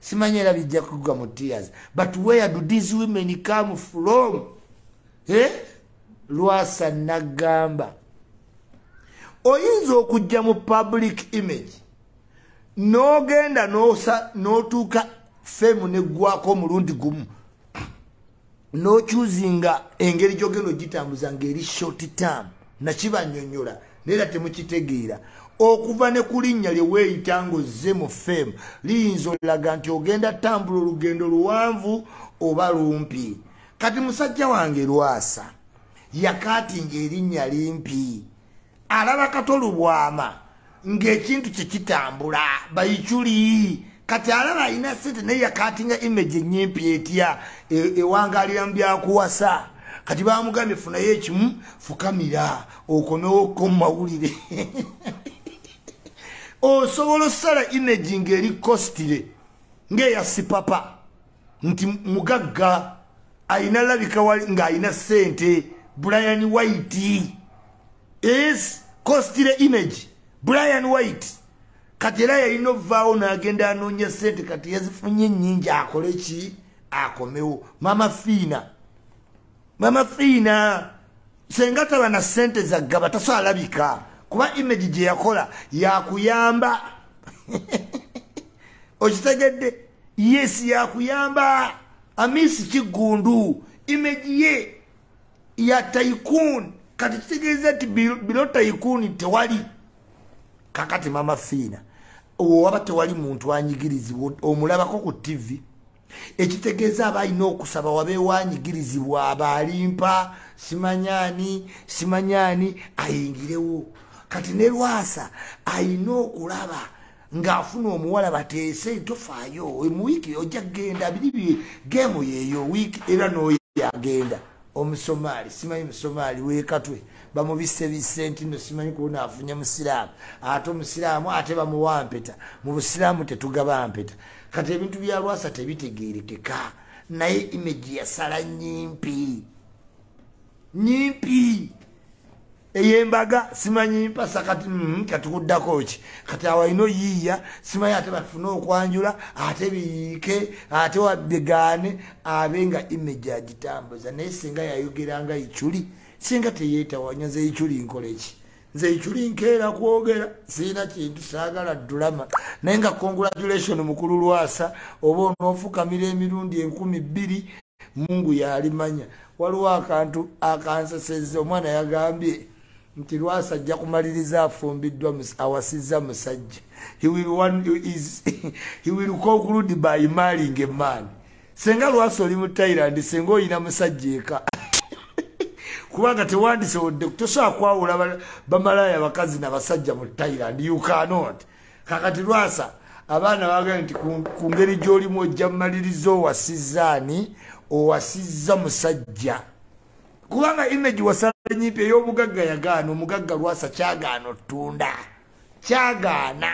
simanyi era bijja kugwa mu tears but where do these women come from eh? lwasa nagamba oyinza okujja mu public image n'ogenda n'otuuka femu neggwako omulundi gumu nokyuzinga engeri gyogenda ogitambuza ngaeri short term nakibanyonyola naera temukitegeera okuva ne ku linnya lye weeyita ng'ozze mu fem liyinza olaga nti ogenda tambula olugendo luwanvu oba lumpi kati musajja wange lwasa yakaatinga erinnya limpi alaba kato lubwama ng'ekintu kye kitambula bayiculi kati alaba alina sente naye yakatinga image enyimpi etya e, ewangalira mu byakuwasa kati bamugambye funayo ekimu fukamira okomewo ko mumawulire osobola osala image ng'eri kositire ng'eya sipapa nti mugagga alina labika wali ng'alina ssente brian white is costile image brian white kati era yalina ovaawo n'agenda anoonya ssente kati yazifunye nnyingi akole ki akomewo mama fiina mama fiina senga taba na ssente zaggaba tasaalabika kuba image gye yakola yakuyamba okitegedde yes yakuyamba amisi kiggundu imeji ye ya taikun kati kitegeeza nti bilo taikun tewali kakati mama fiina owaba tewali muntu anyigirizibwa omulabako ku tivi ekitegeeza aba alina okusaba wabeewo anyigirizibwa aba alimpa simanyani simanyani ayingirewo kati ne lwasa alina okulaba ng'afuna omuwala bateese tofaayo mu wiiki ojja kugenda biri bi geemu yeeyo wiiki era n'oyagenda omusomaali simanyi musomaali wekatwe bamubise bisenti no simanyi kuona afunye musiraamu ate omusiraamu ate bamuwa mpeta mu busiraamu tetugaba mpeta kati ebintu bya lwasa tebitegerekeka naye imeji yasala nyimpi nyimpi eyembaga simanyi mpasa kati mm, katikuddako ki kati awalina oyiiya simanyi ate bafune okwanjula ate biyiike ate wabigaane abe nga image agitambuza naye singa yayogera nga iculi singa teyetawanya nze iculi nkola eki nze iculi nkeera kwogera sirina kintu saagala dulama naye nga congratulation mukulu lwasa oba onoofukamira emirundi enkumi bbiri mungu yalimanya waliwo akantu akanseseza omwana yagambye nti lwasa ajja kumaliriza afumbiddwa awasizza musajja he will conclude by maling a man senga lwasa oli mu thailand senga oyina musajja eka kubanga tewandisewodde kutosobola kwawula bamalaaya bakazi nabasajja mu thailand you cannot kakati lwasa abaana bagae nti ku ngeri gy'olimu ojja mumaliriza owasizza ani owasizza musajja kubanga image wasala nyimpi ey'obugagga yagaana omugagga lwasa kyagaana otunda kyagaana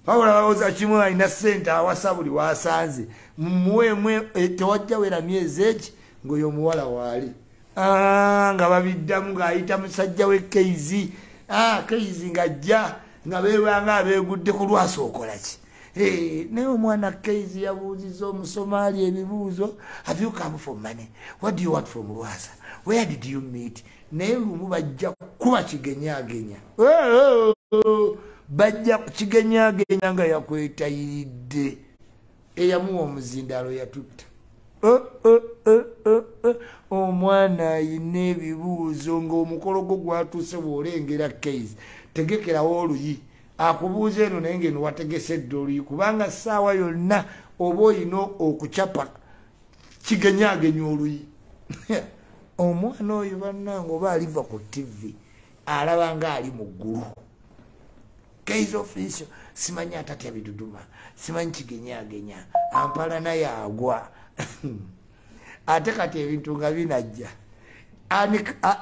wabula bawoza kimu alina sente awasa buli wasanze mumuweemu e, tewajja wera myezi eki ng'oyo omuwala waali Ah, nga babiddamu ng'ayita musajja we keizi ah, keizi ng'ajja nga beebanga abeegudde ku lwasi okola ki eh, naye omwana keizi yabuuziza omusomaali ebibuuzo have you come for money what do you want from lwasa where did you meet naye lumu bajja kuba kigenyagenya bajja kigenyagenya nga yakwetayiridde eyamuwa omuzindaalo yatutta eh, eh, eh, omwana ayina ebibuuzo ngaomukolo gwo gwatuuse bwolengera kais tegekerawo oluyi akubuuza eno naye ngaeno wategese edda oluyi kubanga saawa yonna oba olina okucapa kigenyagenya oluyi omwana oyo bannanga oba aliva ku tivi alaba nga ali mu ggulu kaiza ofensi simanyi atatya biduduma simanyi kigenyagenya ampala naye agwa ate kati ebintu nga binajja ani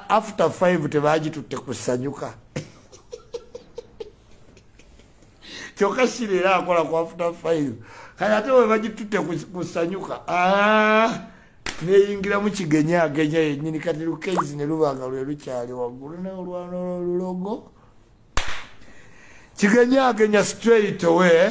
after five tebagitutte kusanyuka kyokka sireera akola ku after five kati ate webagitutte kusanyuka ah, neyingira mu kigenya agenya yenyini kati lukeizi ne lubanga lwe lukyali waggulu naye olwana olulogo kigenyagenya straight away